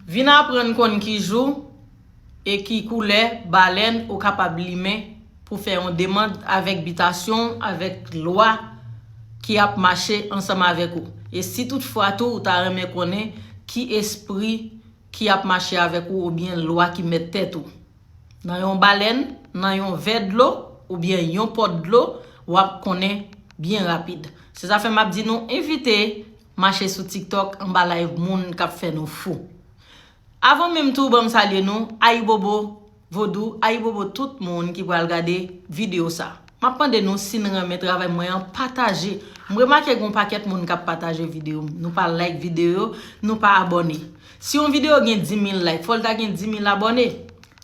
Vin aprann konn ki jou e ki koulè balèn ou kapab limen pou fè yon demand avèk bitasyon w avèk lwa ki ap mache ansanm avèk ou. E si tout fwa tou ou ta renmen konnen ki espri ki ap mache avèk ou oubyen lwa ki mèt tèt ou. Nan yon balèn, nan yon vè dlo oubyen yon pot dlo wap konnen byen rapid. Se zafè map di nou envite. Mache sou tiktok anba live moun kap fè nou fou Avan menm tou banm salye nou Ayibobo vodou ayibobo tout moun ki pral gade video sa Map mande nou sin renmen travay mwen an pataje M remake gon pakèt moun kap pataje video m nou pa like video nou pa abone Si yon video gen 10000 like fòl ta gen 10000 abone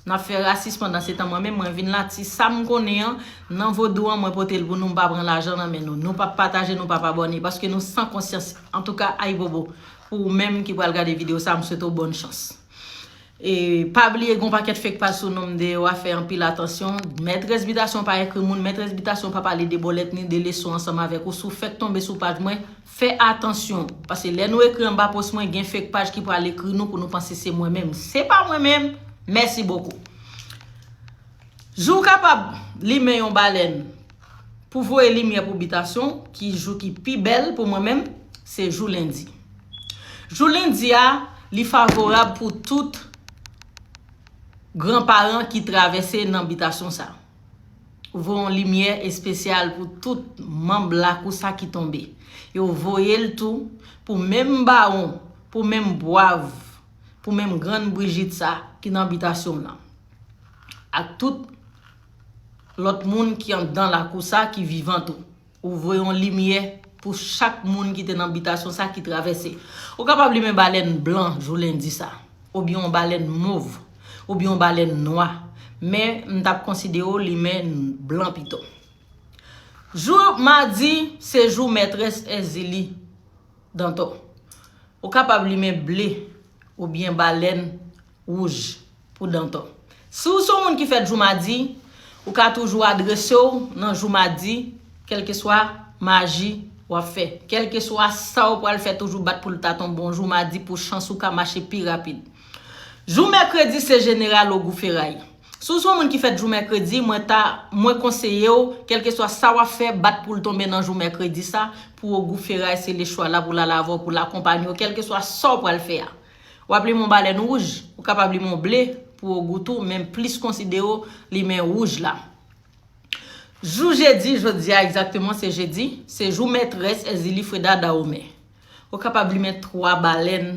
Nap fè rasis pandan se tan mwen menm mwen vin la ti sam konnen an nan vodou an mwen potel pou nou mpa pran lajan nan men nou nou pap pataje nou pap abòne paske nou san konsyans antouka ayibobo pou ou menm ki pral gade video sa m swete w bòn chans e pa bliye gon pakèt fek paj sou nom deyò wa fè anpil atansyon mètrès bitasyon pa ekri moun mètrès bitasyon pa pale de bòlèt ni de leson ansanm avèk ou si w fèk tonbe sou paj mwen Fè atansyon, paske lè nou ekri anba post mwen gen fake paj ki pral ekri nou pou nou panse se mwen menm. Se pa mwen menm, mèsi bokou. Jou w kapab limen yon balèn pou voye limyè pou bitasyon w ki jou ki pi bèl pou mwen menm, se jou lendi. Jou lendi a, li favorab pou tout gran paran ki travèse nan bitasyon sa a. voye yon limyè espesyal pou tout manb lakou sa ki tonbe. Yo voye l tou pou menm bawon, pou menm bwav, pou menm grann Brijit sa ki nan bitasyon m nan. Ak tout lòt moun ki anndan lakou sa ki vivan tou. Ou voye yon limyè pou chak moun ki te nan bitasyon sa ki travèse. Ou kapab li men balèn blan jou lendi sa. Oubyen yon balèn mov. Oubyen yon balèn nwa. Men m t ap konsidere w li men blan pito. Jou madi se jou mètrès Èzili Dantò. Ou kapab li men ble. Oubyen balèn Wouj pou Dantò. Si w se yon moun ki fèt jou madi, ou ka toujou adrese w nan jou madi kèlkeswa maji w ap fè. Kèlkeswa sa w pral fè toujou bat pou l ta tonbe yon jou madi pou chans ou ka mache pi rapid. Jou mèkredi se jeneral logou feray. Si w se yon moun ki fèt jou mèkredi, mwen ta mwen konseye w kèlkeswa sa w ap fè bat pou l tonbe nan jou mèkredi sa pou ogou feray se lechwa la pou l al avè w pou l akonpanye w kèlkeswa sa w pral fè a. Wap limen yon balèn wouj, ou kapab limen yon ble pou ou gou tou men plis konside ou limen wouj la. Jou jedi, jodi a egzakteman se jedi, se jou mètrès Èzili Freda Dahomey. Ou kapab limen 3 balèn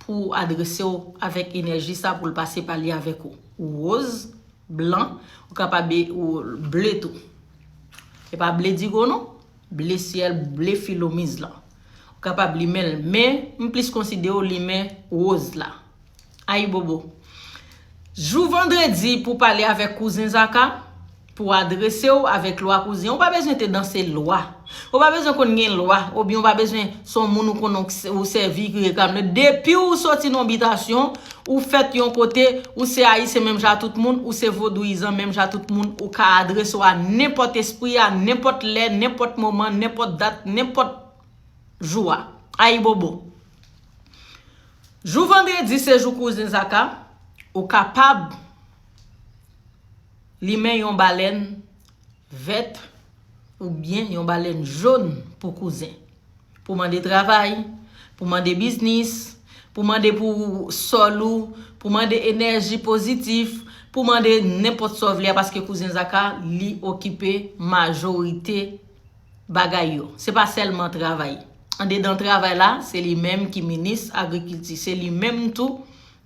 pou ou adrese ou avèk enèji sa pou l pase pale avèk ou. Woz, blan, ou kapab e ble tou. Se pa ble digo non, ble syèl, ble filomiz lan. Ou kapab limen l men m plis konside w limen woz la. Ayibobo! Jou vandredi pou pale avèk kouzen Zaka, pou adrese w avèk lwa kouzen. Ou pa bezwen te danse lwa. Ou pa bezwen konn gen lwa oubyen ou pa bezwen se yon moun ou konnen ou sèvi ki reklame l. Depi w soti nan yon bitasyon. Ou fèt yon kote, ou se Ayisyen menm jan a tout moun, ou se Vodouyizan menm jan a tout moun, ou ka adrese w a nenpòt espri a, nenpòt lè, nenpòt moman, nenpòt dat, nenpòt jou a. Ayibobo! Jou vandredi se jou kouzen Zaka, ou kapab limen yon balèn vèt oubyen yon balèn jòn pou kouzen. Pou mande travay, pou mande biznis, pou mande pou sòl ou, pou mande enèji pozitif, pou mande nenpòt sa w vle a paske kouzen Zaka li okipe majorite bagay yo. Se pa sèlman travay. Andedan travay la, se li menm ki minis agrikilti. Se li menm tou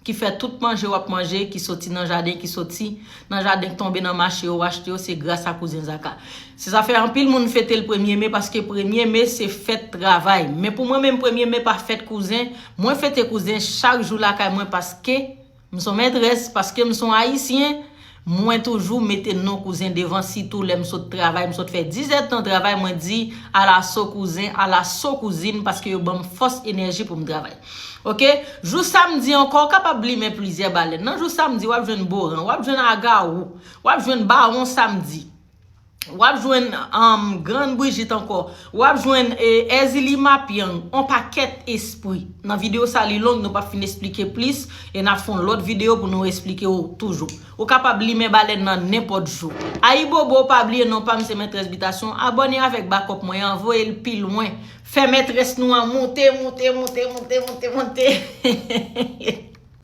ki fè tout manje wap manje ki soti nan jaden ki soti nan jaden k tonbe nan mache yo w achte yo se gras a kouzen Zaka se sa fè anpil moun fete l premye me paske premye me se fèt travay men pou mwen menm premye me pa fèt kouzen mwen fete kouzen chak jou lakay mwen paske m son mètrès paske m son ayisyen Mwen toujou mete non kouzen devan sitou lèm sot travay msot fè 10 èd tan travay mwen di alaso kouzen alaso kouzin paske yo banm fòs enèji poum travay ok jou samdi ankò ou kapab limen plizyè balèn nan jou samdi wap jwenn boran wap jwenn agarou wap jwenn bawon samdi wap jwenn grann brijit ankò, wap jwenn èzili mapyang, on pakèt espri nan videyo sa li long nou pap fin esplike plis e nap fon lòt videyo pou nou esplike ou toujou ou kapab limen balèn nan nenpòt jou ayibobo pa bliye non pam se mètrès bitasyon abòne avèk bakòp mwen an voye l pi lwen fè mètrès nou an moute moute moute moute moute moute.